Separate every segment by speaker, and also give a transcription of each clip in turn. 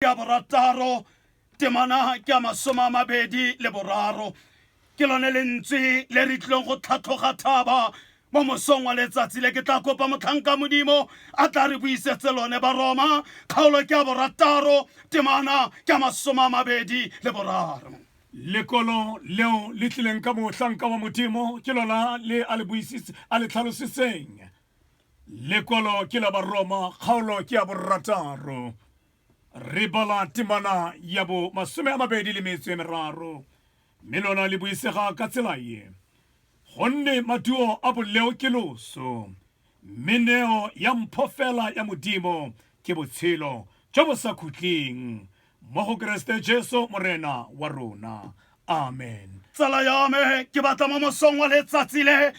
Speaker 1: ya borataro temana ke ya masome a mabedi le boraro ke lone lentswe le re tlileng go tlhatlhoga thaba mo mosong wa letsatsi le ke tla kopa motlhanka modimo a tla re buisetse lone baroma kgaolo ke ya borataro temana ke ya masome a mabedi le boraro lekolo
Speaker 2: leo le tlileng ka mohlanka wa modimo ke lona le a le tlhalositseng lekwalo ke la baroma kgaolo ke ya borataro re bala temana ya bo masome a mabedi le metso e meraro mme lona le buisega ka tsela ye gonne maduo a boleo ke loso mme neo ya mpho fela ya modimo ke botshelo jo bo sa khutleng mo go keresete jesu morena wa rona amen tsala ya me
Speaker 1: ke batla mo mosong wa letsatsi le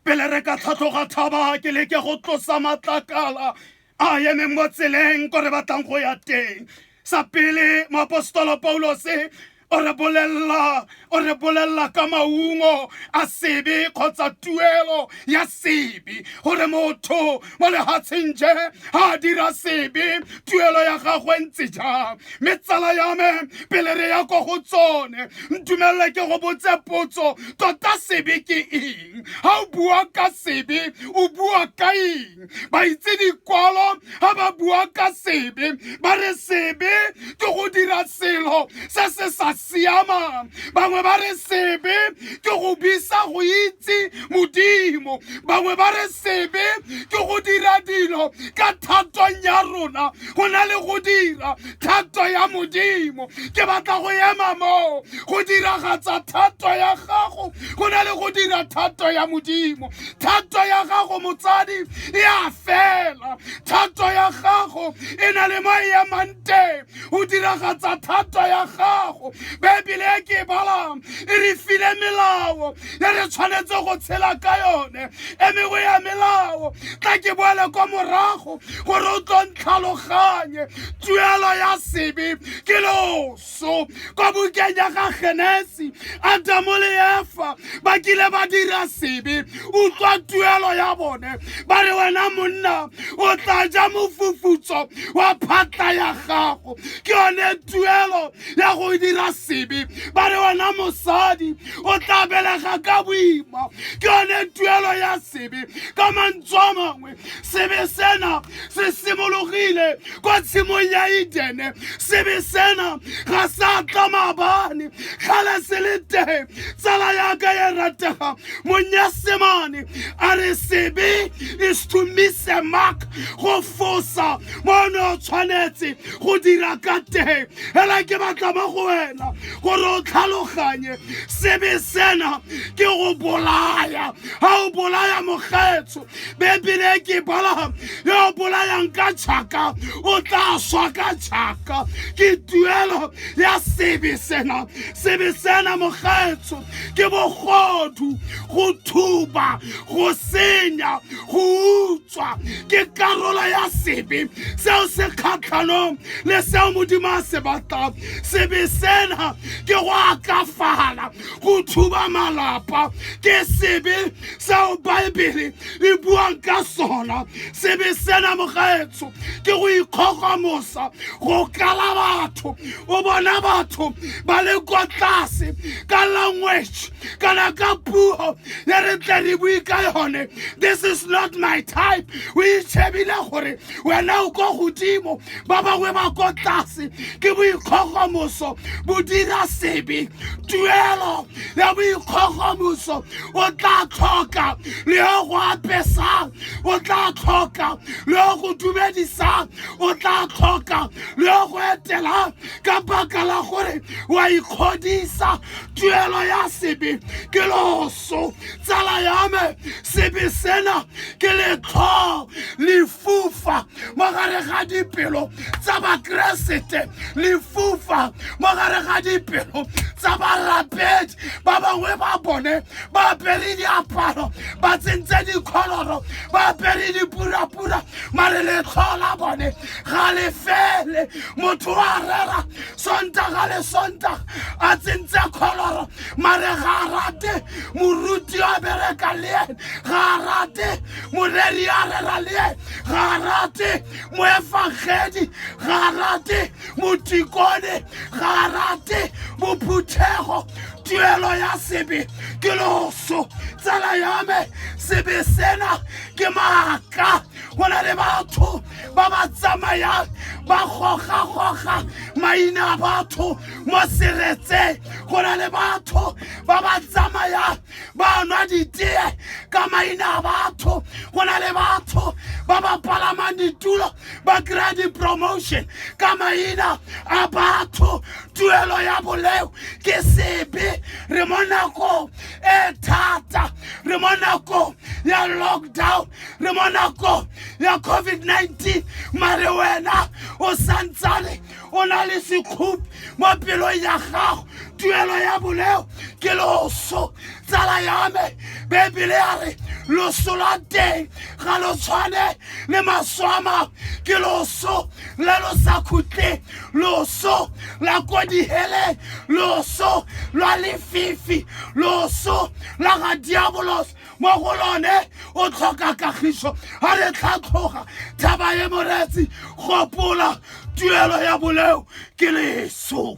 Speaker 1: pele re ka tlhatlhoga thaba ke leke go tlosa matlakala a emeng mo tseleng ko re batlang go ya teng sa pele moapostolo paulose o re bolelela o re bolelela ka maungo a sebe kgotsa tuelo ya sebe gore motho mo lehatsheng je ha dira sebe tuelo ya gagwe ntse jang mme tsala ya me pele re ya ko go tsone ntumelele ke go botse potso tota sebe ke eng ha o bua ka sebe o bua ka eng ba itse dikwalo ha ba bua ka sebe ba re sebe ke go dira selo se se sa siamang bangwe ba re sebe ke go bisa go itse modimo bangwe ba re sebe ke go dira dilo ka thatong ya rona go na le go dira thato ya modimo ke batla go ema moo go diragatsa thato ya gago go na le go dira thato ya modimo thato ya gago motsadi e a fela thato ya gago e na le mo e emang teng o diragatsa thata ya gago baebele e ke e balang e re file melao e re tshwanetse go tshela ka yone e mengwe ya melao tla ke boele kwa morago gore o tlo ntlhaloganye tuelo ya sebe ke loso kwa bukeng ya ga genesi adamo le efa ba kile ba dira sebe utlwa tuelo ya bone ba re wena monna o tla ja mofufutso wa phatla ya gago ke yone tuelo ya go dira sebe ba re wena mosadi o tla belega ka boima ke yone tuelo ya sebe ka mantswe a mangwe gagwe sebe sena se simologile kwa tshimong ya edene sebe sena ga sa tla maabane kgale se le teng tsala yaka ya ratega monyasemane a re sebe is to miss a mark go fosa mo ne o tshwanetse go dira ka teng fela ke batla mo go wena gore o tlhaloganye sebe sena ke go bolaya ga o bolaya mogetso bebele ke bala yo o bolayang ka tšhaka o tla swa ka tšhaka ke tuelo ya sebe sena sebe sena mogaetsho ke bogodu go thuba go senya go utswa ke karolo ya sebe seo se kgatlhanong le seo modimo a se batlang sebe sena ke go akafala go thuba malapa ke sebe seo baebele e buang ka sona sebe sena mogaetsho ke go ikgogomosa go kala batho o bona batho ba le kwa tlase ka language kana ka puo e re tle re bue ka yone this is not my type o itšhebile gore wena o ko godimo ba bangwe ba ko tlase ke boikgogomoso bo dira sebe tuelo ya boikgogomoso o tla tlhoka le yo go apesang o tla tlhoka le yo go dumedisang o tla tlhoka le yo go etelang ka baka la gore wa ikgodisa tuelo ya sebe ke loso tsala ya me sebe sena ke letlho lefufa mo gare ga dipelo tsa bakeresete lefufa mo gare ga dipelo tsa barapedi ba bangwe ba bone ba apere diaparo ba tsentse dikholoro ba apere dipurapura mare letlho la bone ga le fele motho wa rera sontaga le sontaga a tsentse kholoro mare ga a rate moruti a bereka le ene ga a rate moreri a rera le ene ga a rate moefagedi ga a rate motikone ga a rate bophuthego tuelo ya sebe ke loso tsala ya me sebe sena ke maaka go na le batho ba ba tsamayang ba gogagoga maina a batho mo seretseng go na le batho ba ba tsamayang ba nwa ditee ka maina a batho go na le batho ba ba palamang ditulo ba kry-a di-promotion ka maina a batho tuelo ya boleo ke sebe re mo nakong e thata re mo nakong ya lockdown re mo nakong ya covid-19 mare wena o santsane o na le sekhupi mo pelong ya gago tuelo ya boleo ke loso tsala ya me bebele ya re loso la teng ga lo tshwane le maso a mangwe ke loso le lo sa khutleng loso la ko diheleng loso lwa lefifi loso la ga diabolos mo go lone o tlhoka kagiso a re tlhatlhoga tlhaba e moretsi gopola tuelo ya boleo ke leso